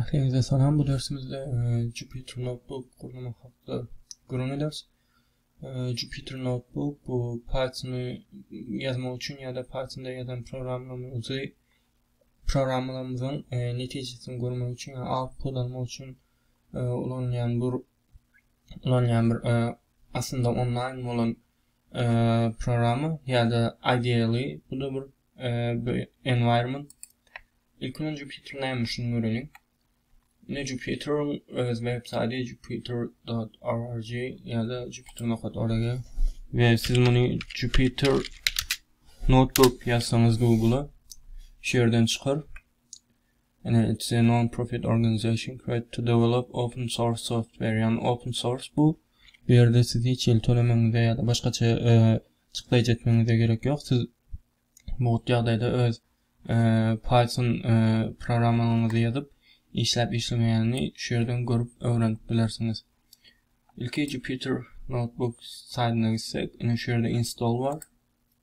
Ähliňize salam, bu dersimizde e, Jupyter Notebook gurnamak hakda gürrüň ederis. E, Jupyter Notebook bu Pythony ýazmak üçin ýa-da Pythonda ýazan programmalarymyzy programmalarymyzyň e, netijesini görmek üçin, ýa output almak üçin e, ulanýan bir ulanýan bir aslynda onlaýn bolan programma ýa-da ideally bu da bir bu environment. Ilki bilen Jupyter näme şuny göreliň. Ne Jupyter öz web saýty jupyter.org ýa-da jupyter.org we siz muny Jupyter notebook ýazsaňyz Google-a şu ýerden çykar. and it's a non-profit organization created to develop open source software yani open source bu bu yerde siz hiç hili tölemeňize ya da başgaça çykdajy etmeňize gerek yok siz bu ýagdaýda öz python programmaňyzy ýazyp işläp işlemeýänini şu ýerden görüp öwrenip bilersiňiz ilki jupyter notebook saýdyna gitsek ine şu ýerde install bar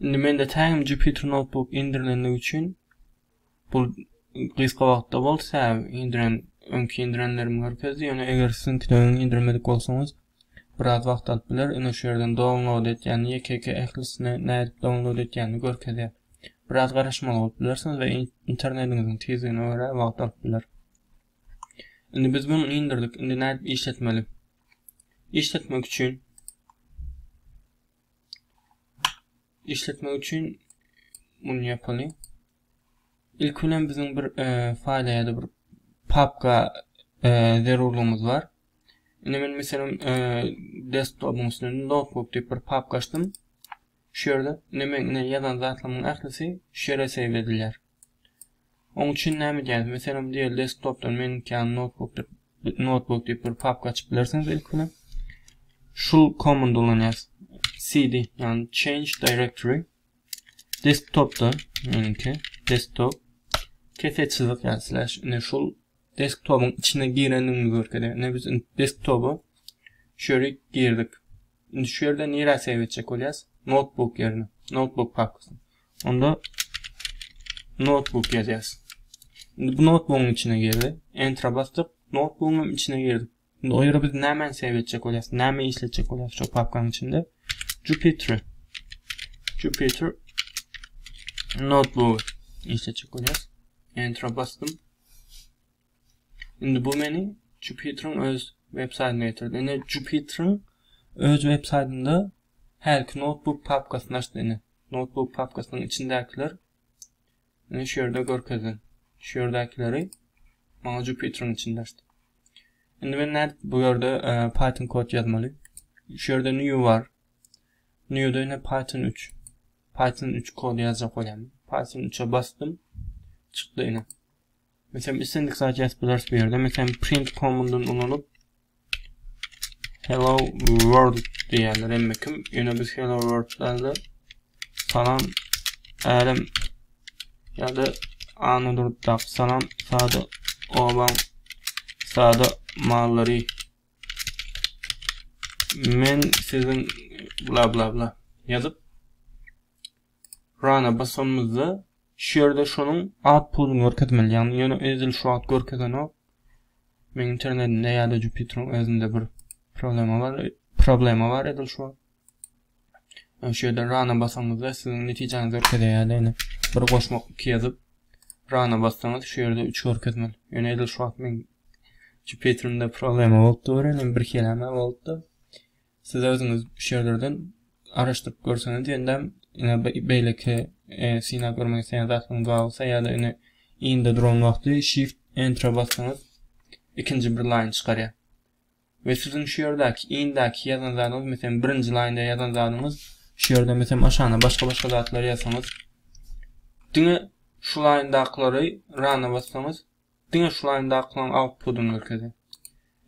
Indi mende täim Jupyter Notebook indirilenligi üçin bu gysga wagtda bol säm indiren öňki indirenlerimi görkezdi. Ýöne eger siziňki de öňi indirmedik bolsaňyz biraz wagt alyp biler. Indi şu ýerden download et ýany ýeke-ýeke ählisini nädip download etýänini görkezýär. Biraz garaşmaly bolup bilersiňiz we internetiňiziň tizligine görä wagt alyp biler. Indi biz bunu indirdik. Indi nädip işletmeli? işletmek üçin işletmek üçin bunu yapalım. İlk bilen bizim bir e, faýla ýa-da bir papka e, zerurlygymyz bar. Indi men meselem e, desktopuň üstünde notebook diýip bir papka açdym. Şu ýerde indi men ýazan zatlarymyň ählisi şu ýere save edilýär. Oň üçin näme edýäris? Meselem, diýeli desktopdan meniňki ýaly noutbuk diýip, noutbuk diýip bir papka açyp bilersiňiz ilki bilen. Şul komandy ulanýarys. cd, ýagny change directory. Desktopda meniňki desktop kese çyzyk ýa slash ine şul desktopyň içine girendigini görkezýär. Ine biz desktopa şu ýere girdik. Indi şu ýerde nirä save etjek bolýas? Notebook ýerine. Notebook pakasy. Onda notebook ýazýas. Indi bu notebookyň içine girdi. Enter basdyk. Notebookyň hem içine girdi. Indi o ýere biz nämäni save etjek bolýas? Näme işletjek bolýas şu papkanyň içinde? Jupyter. Jupyter notebook işletjek bolýas. Enter basdym. Indi bu meni Jupyter-iň öz web-saýtyna getirdi. Indi Jupyter-iň öz web-saýtynda hälki notebook papkasyny açdy indi. Notebook papkasynyň içindäkiler indi şu ýerde görkezilen. Şu ýerdäkileri maňa Jupyter-iň içinde açdy. Indi men nädip bu ýerde e, Python kod ýazmaly? Şu ýerde new bar. New-de ine Python 3. Python 3 kod ýazjak bolýan. Python 3-e basdym. Çykdy ine. Meselem islendik zat ýazyp bileris bu ýerde. Meselem print komandyn ulanyp hello world diýýärler emma kim ýöne biz hello world dälde salam älem ýa-da anda durupdak salam sada obaň sada mallary men siziň bla bla bla ýazyp Run-a basanymyzda şu ýerde şonuň at puduny görkezmeli. Ýagny ýöne edil şu wagt görkezenok. Meň internetimde ýa-da Jupyter-iň özünde bir problema bar, problema bar edil şu wagt. Şu ýerde run-a basanymyzda siziň netijäňizi görkezýär ýa-da ýöne bir goşmak iki ýazyp run-a bassaňyz şu ýerde üç görkezmeli. Ýöne edil şu wagt meň Jupyter-imde problema bolup dur, ýöne bir keleme bolupdy. Siz özüňiz şu ýerlerden araşdyryp görseňiz diýendäm, ine beýleki synap görmek isleýän zatlaryňyz bar bolsa ýa-da ine inde duran wagty shift enter bassaňyz ikinji bir laýn çykarýar. Ve sizin şu yerdeki indeki yazan zadınız mesela birinci line yazan zadınız şu yerde mesela aşağına başka başka zatlar yazsanız dine şu line dakları rana bassanız Diňe şu laýnda akylan autpudyny görkezýär.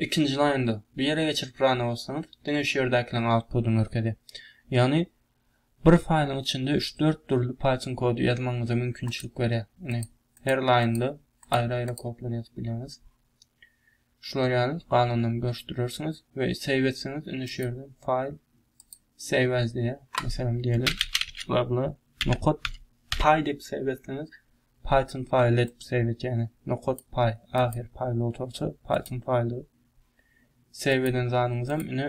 Ikinji laýnda, bu ýere geçirip rana bassaňyz, diňe şu ýerdäkileriň autpudyny görkezýär. Ýagny bir faýlyň içinde üç-dört dürli Python kody ýazmagyňyza mümkinçilik berýär. Ine, her laýnda aýry-aýry kodlar ýazyp bilýäňiz. Şular ýaly, galanlaryny görüşdirersiňiz we save etseňiz, indi şu ýerden faýl save as diýýär. Meselem diýeli, bla bla nokat py diýip save etseňiz, Python file let save et ýagny nokat paý ahyr paý load bolsa python file save eden zanyňyzam ine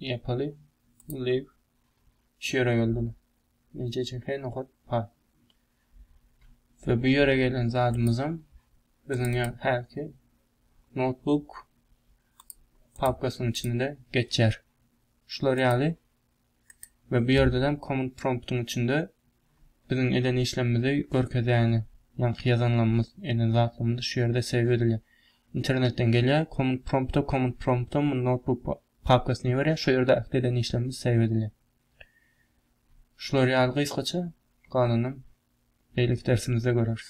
ýapaly live şu ýere geldim neje üçin he nokat paý we bu ýere gelen zadymyzam biziň ýa häki notebook papkasynyň içinde geçer şular ýaly we bu ýerdenem komand promptyň içinde biziň eden işlemimizi görkezýäni ýaňky ýazanlarymyz eden zatlarymyz şu ýerde save edilýär internetden gelýär komand prompta komand prompta bu notebook papkasyny iberýär şu ýerde ähli eden işlemimiz save edilýär şular ýaly gysgaça galanam beýleki dersimizde göreris